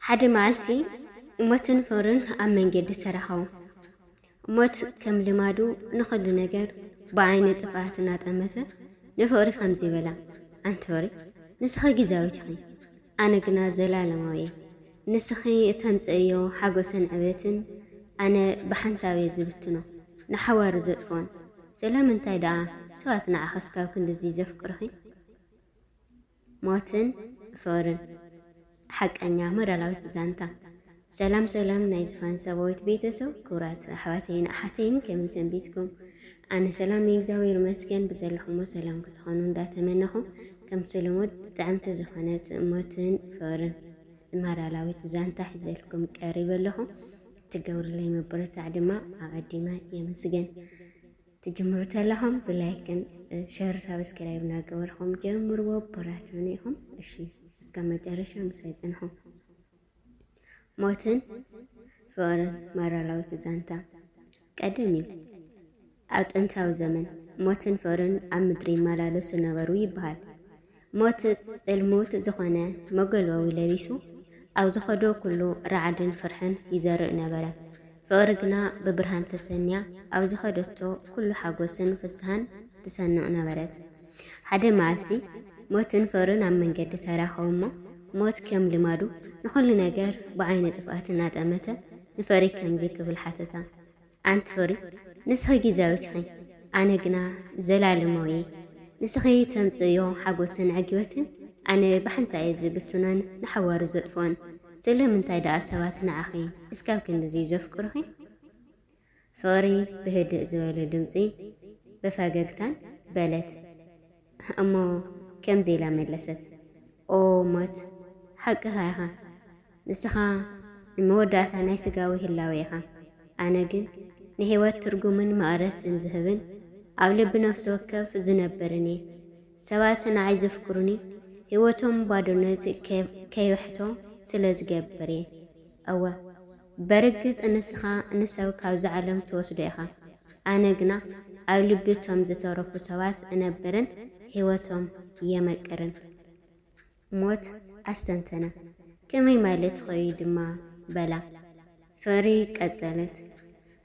ሓደ መዓልቲ እሞትን ሑርን ኣብ መንገዲ ተራኸቡ። እሞት ከም ልማዱ ንኹሉ ነገር ብዓይኒ ጥፍኣት እናጠመተ ንሑሪ ከምዚ በላ፣ ኣንቲ ሑሪ ንስኺ ግዛዊት ኢኺ፣ ኣነ ግና ዘላለማው'የ፣ ንስኺ እተምጽእዮ ሓጎስን ዕቤትን ኣነ ብሓንሳብ'የ ዝብትኖ፣ ንሓዋሩ ዘጥፍኦን። ስለምንታይ ደኣ ሰባት ንዓኺ እስካብ ክንድ'ዚ ዘፍቅሩኺ? ሞትን ፍቕርን። ሓቀኛ ሞራላዊት ዛንታ። ሰላም ሰላም ናይ ዝፋን ሰባዊት ቤተሰብ ክብራት ኣሕዋተይን ኣሓተይን ከመይ ሰንቢትኩም? ኣነ ሰላም እየ እግዚኣብሔር ይመስገን ብዘለኹሞ ሰላም ክትኾኑ እንዳተመነኹ ከምቲ ልሙድ ጥዕምቲ ዝኾነ ጽእሞትን ፈርን ማራላዊት ዛንታ ሒዘልኩም ቀሪበ ኣለኹ። ትገብርለይ መበረታዕ ድማ ኣቐዲመ የመስገን። ትጅምሩ ተለኹም ብላይክን ሸር ሳብስክራይብ እናገበርኹም ጀምርዎ በራትዑኒ ኢኹም። እሺ እስከ መጨረሻ ምሳይ ጽንሑ። ሞትን ፍቕርን ማራላዊት ዛንታ ቀደም እዩ። ኣብ ጥንታዊ ዘመን ሞትን ፍቕርን ኣብ ምድሪ ይመላለሱ ነበሩ ይበሃል። ሞት ጽልሙት ዝኾነ መገልበዊ ለቢሱ ኣብ ዝኸዶ ኩሉ ራዕድን ፍርሕን ይዘርእ ነበረ። ፍቕሪ ግና ብብርሃን ተሰንያ ኣብ ዝኸደቶ ኩሉ ሓጎስን ፍስሃን ትሰንቕ ነበረት። ሓደ መዓልቲ ሞትን ፍቕርን ኣብ መንገዲ ተራኸቡ እሞ ሞት ከም ልማዱ ንኹሉ ነገር ብዓይነ ጥፍኣት እናጠመተ ንፍቕሪ ከምዚ ክብል ሓተታ፣ ኣንቲ ፍቕሪ ንስኺ ጊዚያዊት ኢኺ፣ ኣነ ግና ዘላለማዊ እየ። ንስኺ ተምጽእዮ ሓጎስን ዕግበትን ኣነ ብሓንሳእ እየ ዝብትኖን ንሓዋሩ ዘጥፍኦን። ስለምንታይ ደኣ ሰባት ንዓኺ እስካብ ክንድዚ'ዩ ዘፍቅሩኺ? ፍቕሪ ብህድእ ዝበለ ድምጺ ብፈገግታን በለት። እሞ ከምዚ ኢላ መለሰት፣ ኦ ሞት! ሓቅኻ ኢኻ። ንስኻ ንመወዳእታ ናይ ስጋዊ ህላዌ ኢኻ። ኣነ ግን ንህይወት ትርጉምን መቐረትን ዝህብን ኣብ ልቢ ነፍሲ ወከፍ ዝነብርን እየ። ሰባት ንዓይ ዘፍቅሩኒ ህይወቶም ባዶነት ከይበሕቶ ስለ ዝገብር እየ። እወ፣ በርግጽ ንስኻ ንሰብ ካብዛ ዓለም ትወስዶ ኢኻ፣ ኣነ ግና ኣብ ልቢ እቶም ዝተረፉ ሰባት እነብርን ህይወቶም የመቅርን። ሞት ኣስተንተና። ከመይ ማለት ኾዩ ድማ በላ። ፍቕሪ ቀጸለት።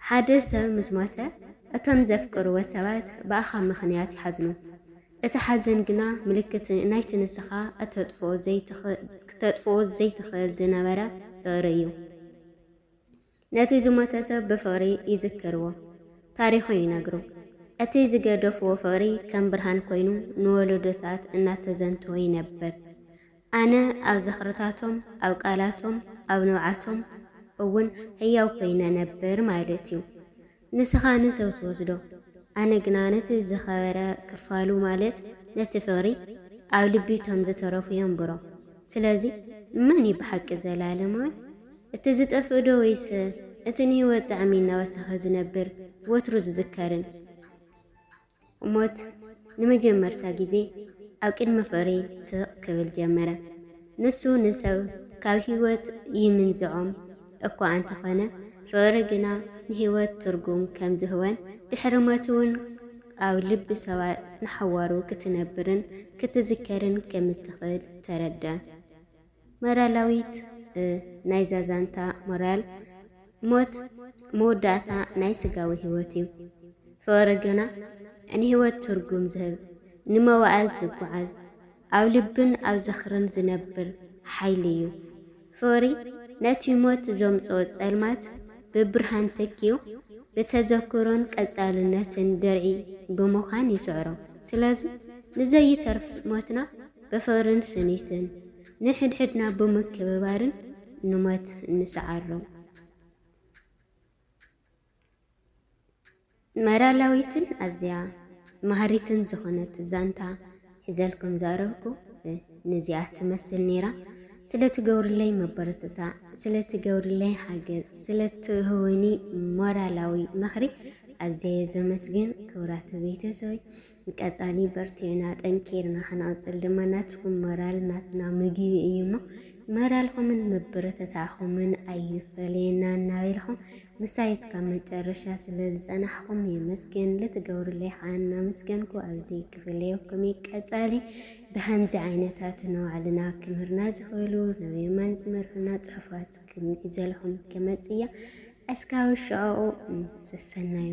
ሓደ ሰብ ምስ ሞተ እቶም ዘፍቅርዎ ሰባት ብኣኻ ምኽንያት ይሓዝኑ። እቲ ሓዘን ግና ምልክት ናይቲ ንስኻ እተጥፍኦ ዘይትኽእል ክተጥፍኦ ዘይትኽእል ዝነበረ ፍቕሪ እዩ። ነቲ ዝሞተ ሰብ ብፍቕሪ ይዝክርዎ፣ ታሪኹ ይነግሩ። እቲ ዝገደፍዎ ፍቕሪ ከም ብርሃን ኮይኑ ንወለዶታት እናተዘንተወ ይነብር። ኣነ ኣብ ዝኽርታቶም፣ ኣብ ቃላቶም፣ ኣብ ንብዓቶም እውን ህያው ኮይነ ነብር ማለት'ዩ። ንስኻ ን ሰብ ትወስዶ ኣነ ግና ነቲ ዝከበረ ክፋሉ ማለት ነቲ ፍቅሪ ኣብ ልቢ ቶም ዝተረፉ የንብሮ ስለዚ መን ዩ ብሓቂ ዘላለማዊ እቲ ዝጠፍእ ዶ ወይስ እቲ ንሂወት ጣዕሚ እናወሰኸ ዝነብር ወትሩ ዝዝከርን ሞት ንመጀመርታ ግዜ ኣብ ቅድሚ ፍቕሪ ስቕ ክብል ጀመረ። ንሱ ንሰብ ካብ ህይወት ይምንዝዖም እኳ እንተኾነ፣ ፍቕሪ ግና ንህይወት ትርጉም ከም ዝህወን ድሕሪ ሞት'ውን ኣብ ልቢ ሰባት ንሓዋሩ ክትነብርን ክትዝከርን ከም እትኽእል ተረድኣ። ሞራላዊት ናይዛ ዛንታ ሞራል፣ ሞት መወዳእታ ናይ ስጋዊ ህይወት እዩ። ፍቕሪ ግና ንህይወት ትርጉም ዝህብ፣ ንመዋእል ዝጓዓዝ፣ ኣብ ልብን ኣብ ዝኽርን ዝነብር ሓይሊ እዩ። ፍቕሪ ነቲ ሞት ዘምጽኦ ጸልማት ብብርሃን ተኪኡ፣ ብተዘክሮን ቀጻልነትን ድርዒ ብምዃን ይስዕሮ። ስለዚ ንዘይተርፍ ሞትና ብፍቕርን ስኒትን ንሕድሕድና ብምክብባርን ንሞት ንሰዓሮ። መራላዊትን ኣዝያ መሃሪትን ዝኾነት ዛንታ ሒዘልኩም ዘቕረብኩ ንዚኣ ትመስል ነይራ። ስለትገብርለይ መበረትታዕ፣ ስለትገብርለይ ሓገዝ፣ ስለትህውኒ ሞራላዊ ምኽሪ ኣዘየ ዘመስግን ክብራት ቤተሰበይ ቀፃሊ በርቲዕና ጠንኪርና ክንቕፅል ድማ ናትኩም መራል ናትና ምግቢ እዩ እሞ መራልኹምን ምብርትታዕኹምን ኣይፈለየና እናበልኹም ምሳይ እስካብ መጨረሻ ስለ ዝፀናሕኹም የመስገን ልትገብሩለይ ከዓ እናመስገንኩ ኣብዚ ክፍለ ወክሜ ቀፃሊ ብከምዚ ዓይነታት ንባዕልና ክምህርና ዝኽእሉ ናብ የማን ዝመርሑና ፅሑፋት ክንሒዘልኹም ክመፅእ እያ እስካብ ሽዕኡ ሰሰናዩ